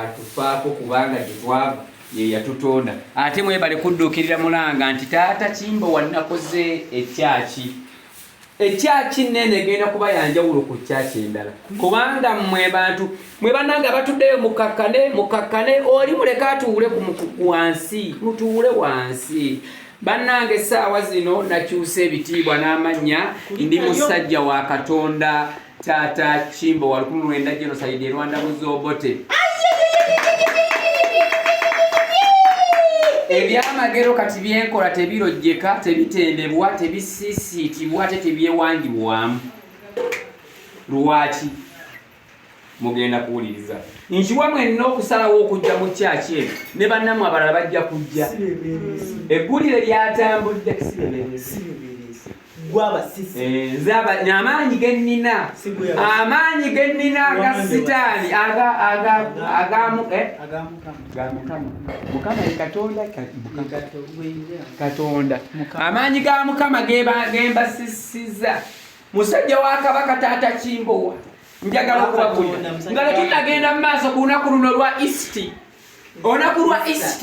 atufaako kubanga gyetwava yeyatutonda ate mwebale kudduukirira mulanga nti taata kimbo wanakoze ekyaki ekyaki nene egenda kuba yanjawulo ku kyaki endala kubanga mwe bantu mwe banange abatuddeyo mukakkane mukakkane oli muleka atuwule wansi mutuwule wansi bannange essaawa zino nakyusa ebitiibwa n'amannya ndi musajja wa katonda Tata Kimbo wa lukumi lwenda genocide e Rwanda Muzobote. Ebyamagero kati byenkola tebirojjeka, tebitendebwa, tebisiisiitibwa ate tebyewangibwamu. Lwaki? Mugenda kuwuliriza. Nkiwa mwenna okusalawo okujja mu kyaki eno ne bannamu abalala bajja kujja. Eggulire lyatambudde. Eh, nze amaanyi ge nnina amaanyi ge nnina aga sitaani mukama katonda katonda amaanyi ga mukama gembasisiza musajja wa kabaka taata kimbowa njagala okubagulira nga tetunagenda mu maaso ku lunaku luno lwa east olunaku lwa east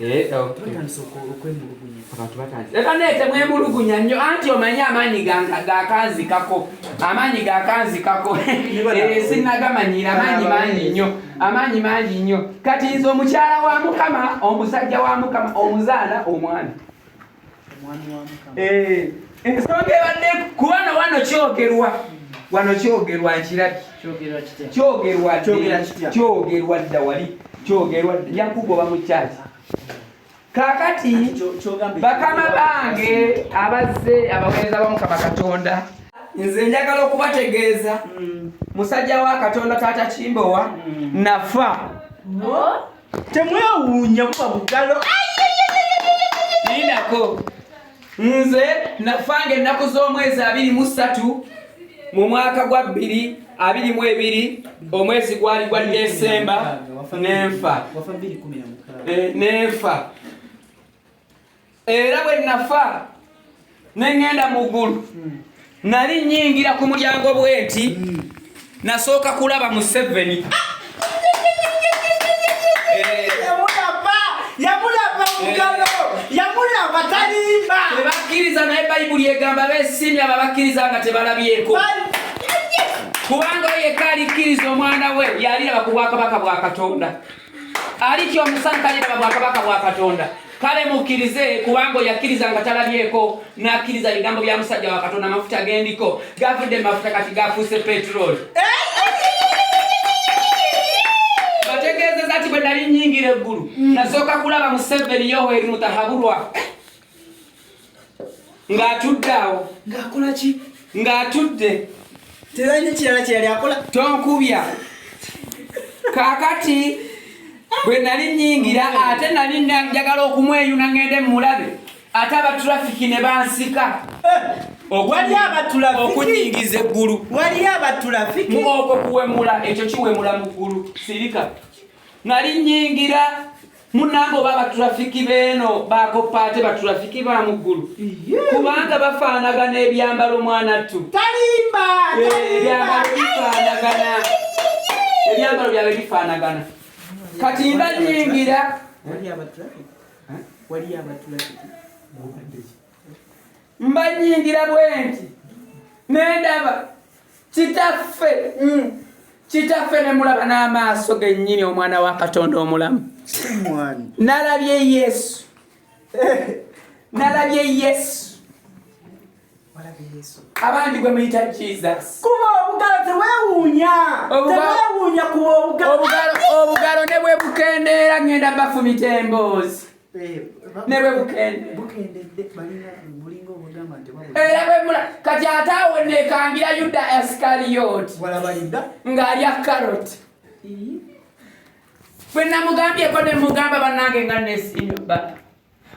Eh, oh. ebaneete mwemulugunya nnyo anti omanyi amaanyi gakanzikako amaanyi gakanzikako eh, sinagamanyira amaanyi mangi nnyo amaanyi mangi nnyo kati nze omukyala wa mukama omusajja wa mukama omuzaana omwana Eh, ensonga ebadde kubana wano kyogerwa wano kyogerwa nkirabye kyogerwa kyogerwa dda wali kyogerwa yakuba oba mukyaki kakati bakama bange abazze abaweereza bamukama katonda nze njagala okubategeeza mm. musajja wa katonda taata kimbowa mm. nafa temwewuunya buba bugalo ninako nze nafanga ennaku z'omwezi abiri mu ssatu mu mwaka gwa bbiri abiri mu ebiri omwezi gwali gwa desemba nenfa eh, nenfa era bwe nafa ne ŋŋenda mu ggulu nali nnyingira ku mulyango bwenti nasooka kulaba museveni tebakkiriza naye bayibuli egamba besiimye abo abakkiriza nga tebalabyeko kubanga yekka alikkiriza omwana we yaliraba ku bwakabaka bwa katonda alitya omusana taliraba bwakabaka bwa katonda kale mukkirize kubanga oyakkiriza nga talabyeko n'akkiriza ebigambo bya musajja wa katonda amafuta gendiko gavudde mafuta kati gafuuse petroli bategeezeza nti bwe nali nyingira eggulu nasooka kulaba museveni yoweri mutahabulwa ng'atudde awo ng'akola ki ng'atudde teralina kirala kyeyali akola tonkubya kaakati bwe nali nyingira ate nali njagala okumweyuna ngende mulabe ate abatrafiki ne bansika eh, okunyingiza eggulu waliyo abatrafiki okwo kuwemula ekyo kiwemula mu ggulu sirika nali nyingira Munange oba abaturafiki beeno bakoppa ate baturafiki ba muggulu kubanga bafaanagana ebyambalo mwanattu ebyambalo bifaanagana ebyambalo byabwe bifaanagana kati mba nyingira waliyo abatulafiki mbanyingira bwenti nendaba kitaffe mm. kitaffe nemulaba n'amaaso gennyini omwana wa katonda omulamu nalabye yesu nalabye yesu abandi gwe muyita jesus kuba obugalo tewewuunya tewewuunya kuba obugalo obugalo ne bwe bukendeera ngenda bafumita emboozi Eh, ne bwe bukendedde era bwe mula kati ate awo nekangira yuda asikariyoti ng'ali akaroti bwe namugambyeko ne mugamba bannange nga nesinba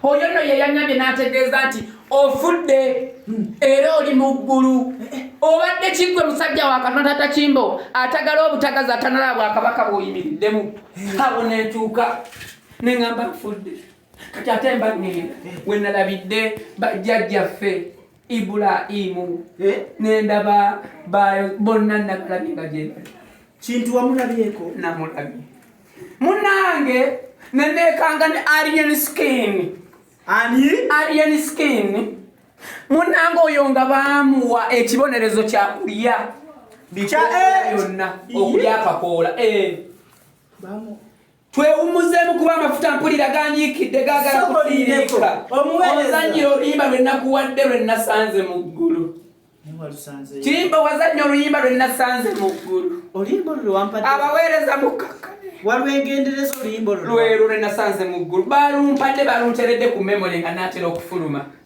oyo nno ye yanyambye n'ategeeza nti ofudde hmm. era oli mu ggulu eh, eh. obadde kiggwe musajja wa katonda takimbo atagala obutagazi atanalaba bwakabaka bw'oyimiriddemu abo netuuka ne ŋamba nfudde kati ate mba ŋŋenda we nalabidde bajjajjaffe ibulayimu eh? ne ndaba bonna nabalabye nga gyebali kintu wamulabyeko namulabye munange neneekanga ne alien skin ani alien skin munange oyo nga baamuwa ekibonerezo kyakulya bikyoyonna eh, okulya akakoola eh. twewummuzeemu kuba amafuta mpulira ganyiikidde gaagala kutiiriika ozannyira oluyimba lwe nakuwadde lwe nasanze mu ggulu kiyimba wazannya oluyimba lwe nasanze mu ggulu abaweereza mukkakka walwengendereza oluyimba olwo lwero lwe nasanze mu ggulu balumpadde balunteredde ku memole nga naatera okufuluma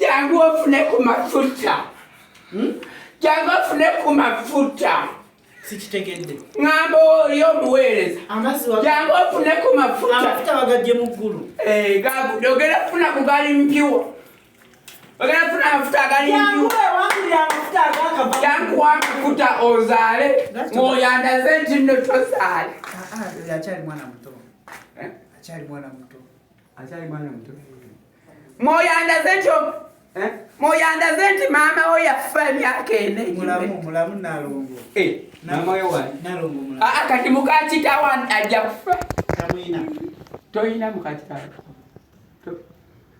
Jangu ofune ku mafuta. Hmm? Jangu ofune ku mafuta. Sikitegedde. Ngamba oli omuweereza. Amazzi wa. Jangu ofune ku mafuta. Amafuta bagajje mu ggulu. Eh, gagu dogera funa ku gali mpiwa. Ogera funa amafuta agali mpiwa. Jangu wewangulira amafuta agakava. Jangu wa mafuta ozaale. Ng'oyandaze nti nno tozaale. Ah, ah, akyali mwana muto. Eh? Akyali mwana muto. mwoyo andaze nti eh? mwoyo andaze nti maama wo yafa emyaka ena kati mukakitawo ajja kufa toyina mukakitawo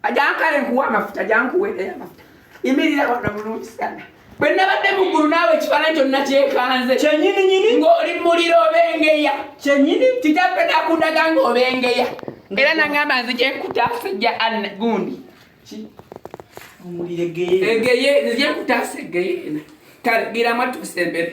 ajankale nkuwa amafuta jankuweereyo amafuta Imirira wano bulungi sana. Bwe nabadde mu ggulu naawe ekifaananyi kyonna kyekanze. Kyennyini nyini. Ng'oli muliro obengeya. Kyennyini. Kitaffe nakundaga ng'obengeya. Era nangamba nzije nkutaasa ejja anna gundi. Ki? Omuliro egeyeena. Egeyeena nzije nkutaasa egeyeena. Kale gira mwatuuse embere.